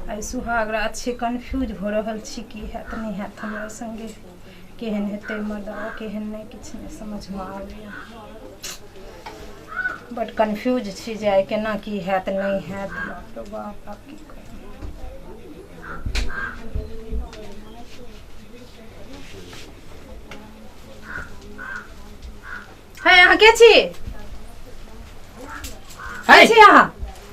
आइ सुहाग रात छै कन्फ्यूज भऽ रहल छी की हैत नहि हैत हमरा सङ्गे केहन हेतै मर्दवा केहन नहि किछु नहि समझमे आबैए बड कन्फ्यूज छी जे आइ केना की हैत नहि हैत बाप रे बाप आब की है अहाँ के छी है छी अहाँ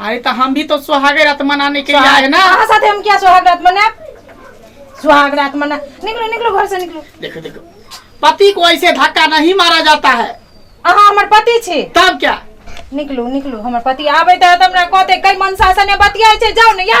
अरे तो हम भी तो सुहागे रात मनाने के लिए आए हैं ना कहाँ साथे हम क्या सुहाग रात मना सुहाग रात मना निकलो निकलो घर से निकलो देखो देखो पति को ऐसे धक्का नहीं मारा जाता है अहाँ हमर पति छी तब क्या निकलू निकलू हमर पति आबे त हमरा कहते कई मनसा सने बतियाय छै जाउ ने या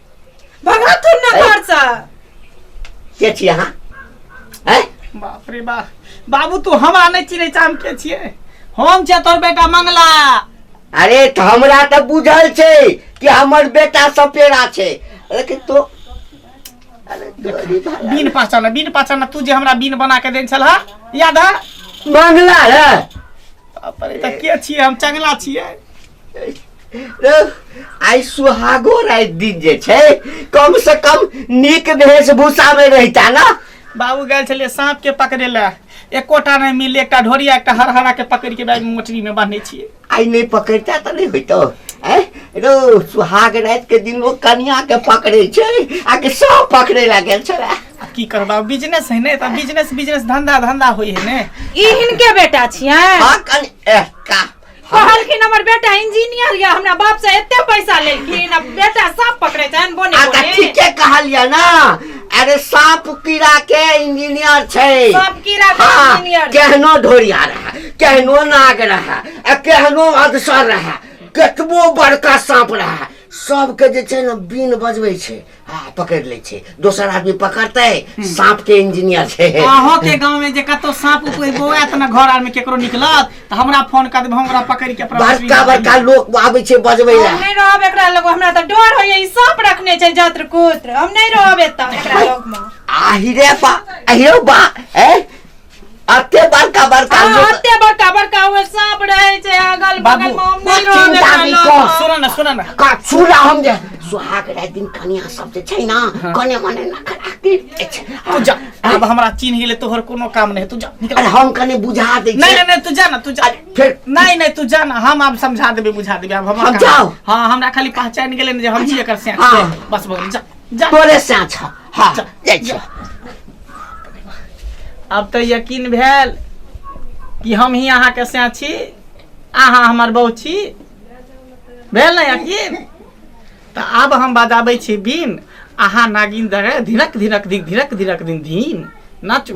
भगा तू ना ए? घर से के छी अहाँ हैं बाप रे बाप बाबू तू हम आने चिरे चाम के छिए हम छे तोर बेटा मंगला अरे त हमरा त बुझल छै कि हमर बेटा सपेरा छै लेकिन तो अरे तोरी भला। बीन पहचान बीन पहचान तू जे हमरा बीन बना के देन छल हा याद है मंगला रे बाप रे त के छिए हम चंगला छिए आइ सुहागो राति दिन जे छै कम से कम नीक वेशभूषा में रहता ना बाबू गए छलियै साँप के पकड़े ला एकोटा नहीं मिले एकटा ढोरिया एकटा हरहरा के पकड़ के बैग मोटरी में बांधे छियै आइ नहीं पकड़ता तो नहीं होतो ऐ रो सुहाग राति के दिन लोग कनिया के पकड़े छै आ के सब पकड़े ला गेल छला आ की कर बाबू बिजनेस है ने तऽ बिजनेस बिजनेस धंधा धंधा होई है ने ई हिनके बेटा छियै हाँ कन ए, का कहलखिन हमर बेटा इंजीनियर या हमरा बाप से एते पैसा लेलखिन अब बेटा सांप पकड़े छन बोने आ तऽ बोने ठीके कहलियै ना अरे साँप कीड़ा के इंजीनियर छै सांप कीड़ा के हाँ, इंजीनियर केहनो ढोरिया रहा केहनो नाग रहा आ केहनो अधसर रहा केतबो बड़का साँप रहा सबके जे छै ने बीन बजबै छै हँ पकड़ि लै छै दोसर आदमी पकड़तै साँप के इंजीनियर छै अहाँ के गांव में जे कतौ साँप कोई बौआत न घर आर में केकरो निकलत त हमरा फोन कर देब हम ओकरा पकड़ के अपना बड़का हॉस्पिटल बड़का लोक आबै छै बजबै हम लए नहीं रहब एकरा लग हमरा तो डर होइए ई सांप रखने छै जत्र कुत्र हम नहीं रहब एतऽ एकरा लग में आहिरे बा आहिरे बा ए अते बड़का बड़का हाँ, लोग अते बड़का बड़का हुए सांप रहे छे अगल बगल में हम नहीं रहबे चिंता नहीं करलहुँ। कर। सुन न सुन न का सुना हम जे सुहाग रात दिन कनिया सब जे छै ना कने मने ना खड़ा के छै तू जा अब हमरा चीन हिले तोहर कोनो काम नहीं है, तू जा निकल अरे हम कने बुझा दे नहीं नहीं नहीं तू जा ना तू जा अरे, फिर- नहीं नहीं तू जा ना हम अब समझा देबे बुझा देबे अब हम हम जाओ। हां हमरा खाली पहचान गेले ने जे हम छी एकर से हाँ। बस बस जा तोरे साँच ह हाँ जाइ छी अब तऽ यकीन भेल कि हम ही अहाँके से छी अहाँ हमर बहू छी भेल ने यकीन तऽ आब हम बजाबै छी बीन अहाँ नागिन दरे धिनक धिनक धिक धिनक धिनक दिन धीन नाचू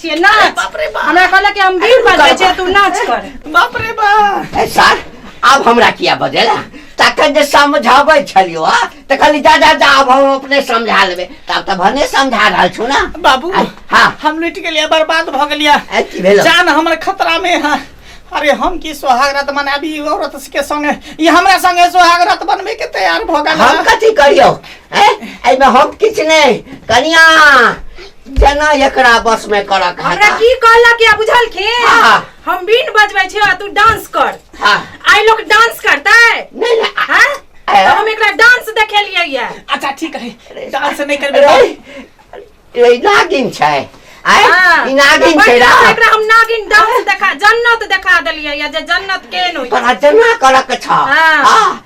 छिए नाच बाप रे बाप। हमरा कहला कि हम अरे बीन बात रुका, छै तू नाच कर बाप रे बाप ए सर आब हमरा किया बजेला तखन जे समझाबै छलियो हा तऽ कहली जा जा जा आब हम अपने समझा लेबै तब तऽ भने समझा रहल छु ना बाबू आ, हाँ। हम लुट गेलिया बर्बाद भ गेलिया ए, की भेलौ? जान हमर खतरा में है अरे हम की सोहाग रात मनाबी ई औरत के संगे ई हमरा संगे सोहाग रात बनबे के तैयार भ गेल हम है। कथी करियौ ए एहिमे हम किछु नहि कनिया जेना एकरा बस में करक है हमरा की कहलक या बुझलखिन हाँ। हम बीन बजबै छी आ तू डांस कर हाँ। आइ लोग डांस करतै नहीं नहीं आ- हैं ए। तो हम एकरा डांस देखेलियै या अच्छा ठीक है डांस नहीं करबे अरे ये नागिन छै आय हाँ। ई नागिन तो छै बढ़िया से रा एकरा हम नागिन डांस देखा जन्नत देखा देलियै या जे जन्नत केहन होइ छै तोरा जेना करक छ हाँ। हाँ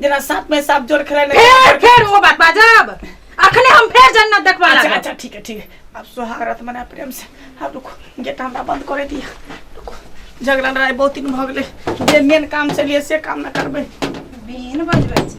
जना साथ में साथ जोड़ खेले नहीं फेर फेर वो बात बाजब अखने हम फेर जन्नत देखबा अच्छा लागब अच्छा ठीक है ठीक है अब सुहागरत मना प्रेम से अब रुको गेट हमरा बंद करे दिया रुको झगड़ा लड़ाई बहुत दिन भऽ गेलै जे मेन काम से लिए से काम ना करबै बेन बजबै छै